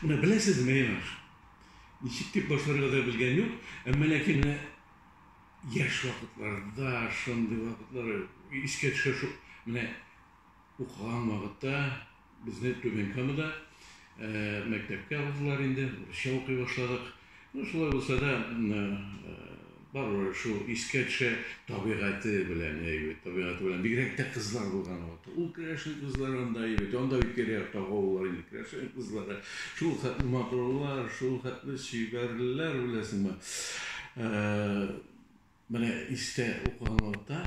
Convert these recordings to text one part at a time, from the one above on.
Менә беләсезме, Ринаш? Ничек дип башларга да белгән юк, әмма ләкин менә яшь вакытларда шундый вакытлар искә төшә шул. Менә укыган вакытта безне Түбән Камада мәктәпкә алдылар инде, урысча укый башладык. Ну, шулай булса да, барыбер шул искә төшә табигате белән, әйбәт, табигате белән, бигрәк тә кызлар булган вакыты. Ул керәшен кызлары анда әйбәт, анда бит тирә-яктагы авыллар инде керәшен кызлары. Шул хәтле матурлар, шул хәтле чибәрләр, беләсеңме. Менә истә укыган вакытта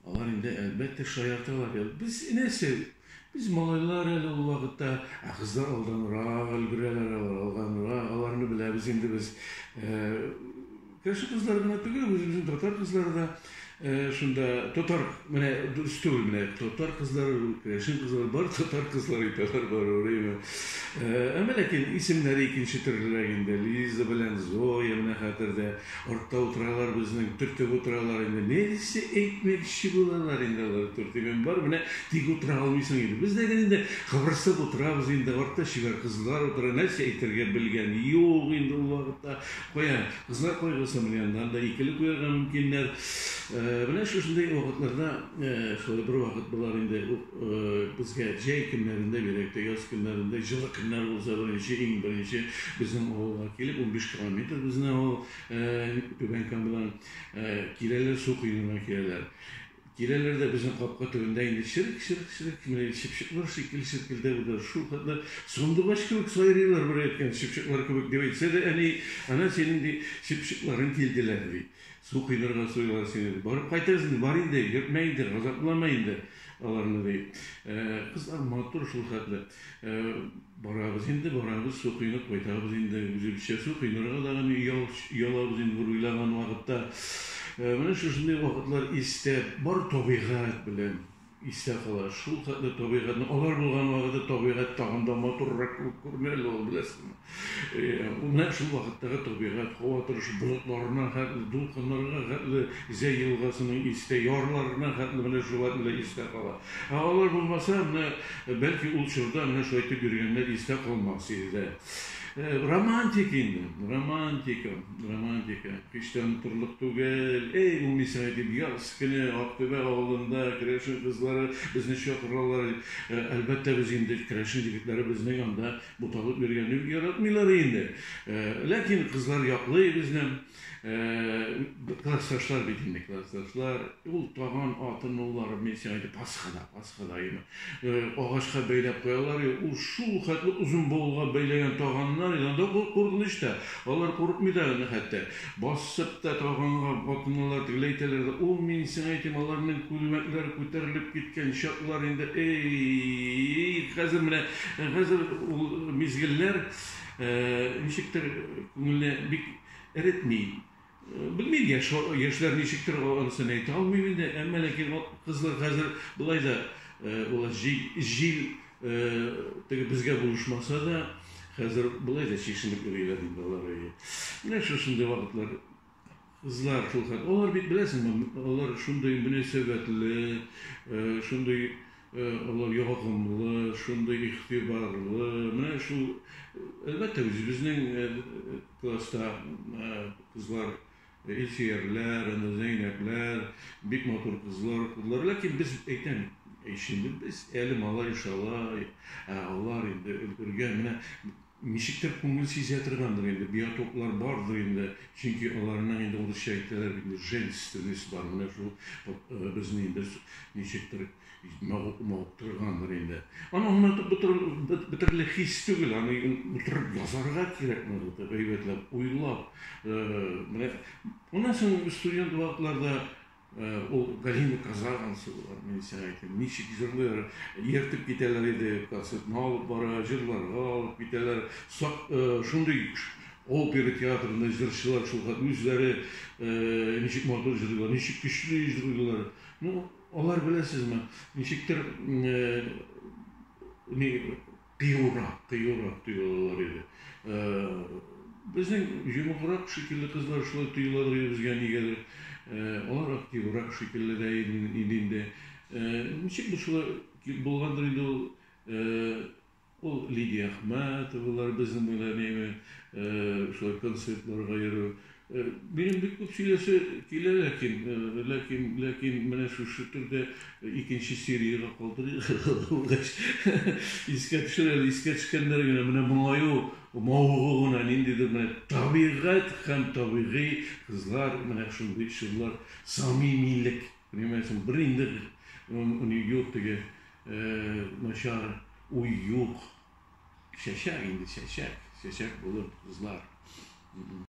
алар инде, әлбәттә, шаярталар иде. Без нәрсә, без малайлар әле ул вакытта, ә кызлар алданрак өлгерәләр, алар алганрак, аларны беләбез инде без. Кеше кызлары гына түгел, үзебезнең татар кызлары да шунда, татар, менә дөрес түгел, менә татар кызлары, керәшен кызлары, бар татар кызлары итәләр барыбер, әйме. Әмма ләкин исемнәре икенче төрлерәк инде, Лиза белән Зоя, менә хәтердә. Артта утыралар безнең, төртеп утыралар инде. Нәрсә әйтмәкче булалар инде алар, төртегән бар, менә тик утыра алмыйсың инде. Без дә инде кыбырсып утырабыз инде, артта чибәр кызлар утыра, нәрсә әйтергә белгән юк инде ул вакытта. Кая, кызлар кайгысы менә аннан да икеле куярга мөмкиннәр. Менә шушындый вакытларда, шулай бервакыт болар инде, Безгә җәй көннәрендә, бигрәк тә яз көннәрендә, җылы көннәр булса, беренче, иң беренче безнең авылга килеп, унбиш километр безнең авыл Түбән Камадан киләләр, су коенына киләләр. Киләләр дә безнең капка төбендә инде чырык-чырык-чырык, менә чыпчыклар шикелле чиркелдәп утыра. Шул хәтле сандугач кебек сайрыйлар, берәйткән чыпчыклар кебек, дип әйтсә дә, әни, ана синең, ди, чыпчыкларың килделәр, ди. Су коенырга суялар сине. Барып кайтырыз инде, бар инде, йөртмә инде, газаплама инде аларны, ди. Кызлар матур шул хәтле. Барабыз инде, барабыз, су коенып кайтабыз инде, үзебезчә су коенырга да гына оялабыз инде бер уйлаган вакытта. Менә шушындый вакытлар истә, бар табигать белән. Истә кала, шул хәтле табигатьне, алар булган вакытта табигать тагын да матуррак кебек күренә әле ул, беләсезме. Ул нәкъ шул вакыттагы табигать, һава торышы, болытларына хәтле, дулкыннарга хәтле, Зәй елгасының истә ярларына хәтле менә шул хәтле истә кала. Ә алар булмаса, менә, бәлки, ул чорда менә шулай итеп йөргәннәр истә калмас иде дә. Романтик инде, романтика, романтика. Һич тә онытырлык түгел. Эй, бу Мисаэдин яз көне Актүбә авылында керәшен кызлары безне чакыралар. Әлбәттә, без инде керәшен егетләре безнең анда буталып йөргәнне бик яратмыйлар инде. Ләкин кызлар яклый безне. Классташлар бит инде, классташлар. Ул таган атын уллары, мин сиңа әйтеп, пасхада, пасхада име. Агачка бәйләп куялар, ул шул хәтле озын бавылга бәйләгән таганнар, анда куркыныч та. Алар курыкмый да аны хәтта. Басып та таганга атыналар, тегеләй итәләр дә. Ул, мин сиңа әйтим, аларның күлмәкләре күтәрелеп киткән чаклар инде, эй-й-й-й! Хәзер менә, хәзер ул мизгелләр ничектер күңелне бик Эретми. Белмим, яшь яшьләр ничектер анысын әйтә алмыйм инде, әмма ләкин кызлар хәзер болай да ул җил, җил теге безгә булышмаса да, хәзер болай да чишенеп йөриләр инде алар. Менә шушындый вакытлар кызлар шул хәл. Алар бит беләсеңме, алар шундый мөнәсәбәтле, шундый Олы ягымлы, шундый игътибарлы. Менә шул, әлбәттә, үзебезнең класста кызлар Илсөярләр, аны Зәйнәбләр, бик матур кызлар укыдылар. Ләкин без әйтәм, ишенде без әле малай шала, ә алар инде өлгергән. Менә Ничектер күңел сизә торгандыр инде, биотоклар бардыр инде, чөнки аларның инде урысча әйтәләр бит инде, женственность бар, менә шул безне инде ничектер мавыктыргандыр инде. Аны онытып бетерерлек хис түгел, аны утырып язарга кирәк, гайбәтләп, уйлап. Менә моннан соң студент вакытларда Ул Галина Казанцева булган, мин сиңа әйтим. Ничек җырлый, ертып китәләр иде, концертны алып бара, җырларга алып китәләр. Шундый опера театрында җырчылар шул хәтле үзләре ничек матур җырлыйлар, ничек көчле җырлыйлар. Ну, алар беләсезме, ничектер кыюрак, кыюрак тоелалар иде. Э, безнең йомыграк шикелле кызлар шулай тоелалар иде безгә нигәдер. Э, алар активрак шикелле дә иде инде. Э, ничек бу шулай булгандыр инде ул э, ул Лидия Ахматовалар безнең буйлар неме, э, шулай концертларга йөрү. Минем бик күп сөйләсе килә, ләкин, ләкин, ләкин менә шушы төрдә икенче сериягә калдырыйк, булгач искә төшер әле, искә төшкәннәре генә, менә моңаю мавыгу гына, ниндидер менә табигать һәм табигый кызлар, менә шундый чорлар, самимилек, понимаецмы, бер инде ни юк теге начар уй юк, чәчәк инде, чәчәк, чәчәк булыр кызлар.